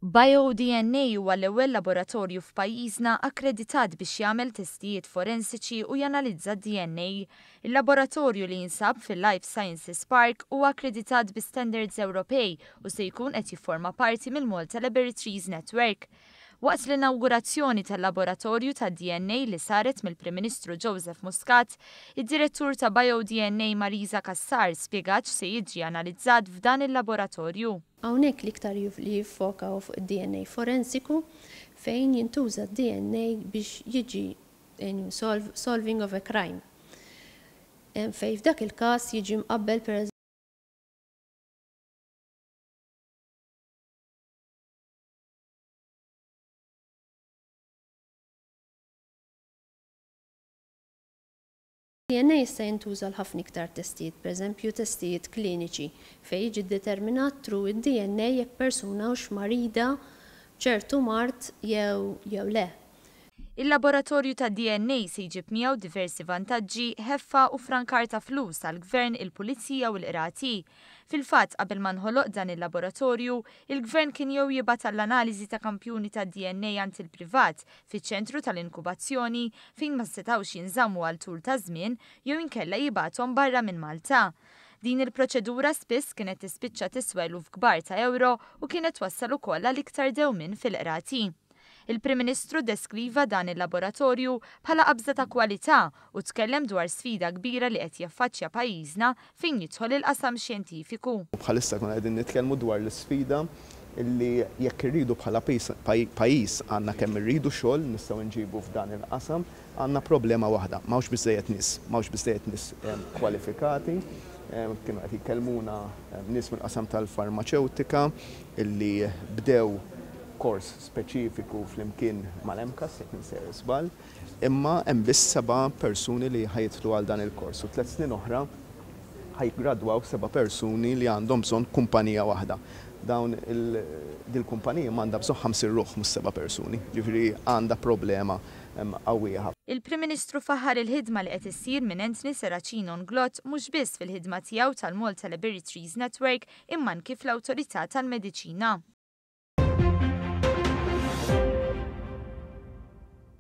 BioDNA huwa l-ewwel laboratorju f'pajjiżna akkreditat biex jagħmel testijiet forensiċi u janalizza d-DNA. Il-laboratorju li jinsab fil-Life Sciences Park huwa akkreditat bi standards Ewropej u se jkun qed jifforma parti mill-Malta Laboratories Network. Waqt l-inawgurazzjoni tal-laboratorju tad-DNA li saret mill-Prim Ministru Joseph Muscat, id-Direttur ta' BioDNA Marisa Cassar spjegat x'se jiġi analizzat f'dan il-laboratorju. Hawnhekk l-iktar li jiffoka hu fuq id-DNA forensiku fejn jintuża d-DNA biex jiġi solving of a crime fejn f'dak il-każ jiġi mqabbel per. DNA jista' jintuża għal ħafna iktar testijiet, pereżempju testijiet kliniċi, fejn jiġi ddeterminat through id-DNA jekk persuna hux marida b'ċertu mard jew jew le. Il-laboratorju tad-DNA se jġib miegħu diversi vantaġġi, ħeffa u ffrankar ta' flus għall-Gvern, il-Pulizija u l-Qrati. Fil-fatt, qabel ma nħoloq dan il-laboratorju, il-Gvern kien jew jibgħat għall-analiżi ta' kampjuni tad-DNA għand il-privat, fiċ-ċentru tal-inkubazzjoni, fejn ma setgħux jinżammu għal tul ta' żmien, jew inkella jibgħathom barra minn Malta. Din il-proċedura spiss kienet tispiċċa tiswa eluf kbar ta' ewro u kienet twassal ukoll għal iktar dewmien fil-qrati. Il-Prim Ministru ddeskriva dan il-laboratorju bħala qabża ta' kwalità u tkellem dwar sfida kbira li qed jaffaċċja pajjiżna fejn jidħol il-qasam xjentifiku. U bħalissa nkunu qegħdin nitkellmu dwar l-isfida li jekk irridu bħala pajjiż għandna kemm irridu xogħol nistgħu nġibu f'dan il-qasam. Għandna problema waħda, m'hawnx biżżejjed nies, m'hawnx biżżejjed nies kwalifikati. Kienu qed jkellmuna nies mill-qasam tal-farmaċewtika li bdew kors speċifiku flimkien mal-MCAS, jekk m'insejjer żball, imma hemm biss seba' persuni li ħa jidħlu għal dan il-kors u tliet snin oħra ħa jiggradwaw seba' persuni li għandhom bżonn kumpanija waħda. Dawn il-, din il-kumpanija għandha bżonn ħamsin ruħ mhux seba' persuni, jiġifieri għandha problema. qawwija ħafna. Il-Prim Ministru faħħar il-ħidma li qed issir minn Anthony Serracino N'Glott mhux biss fil-ħidma tiegħu tal-Malta Laboratories Network imma anki fl-Awtorità tal-Mediċina.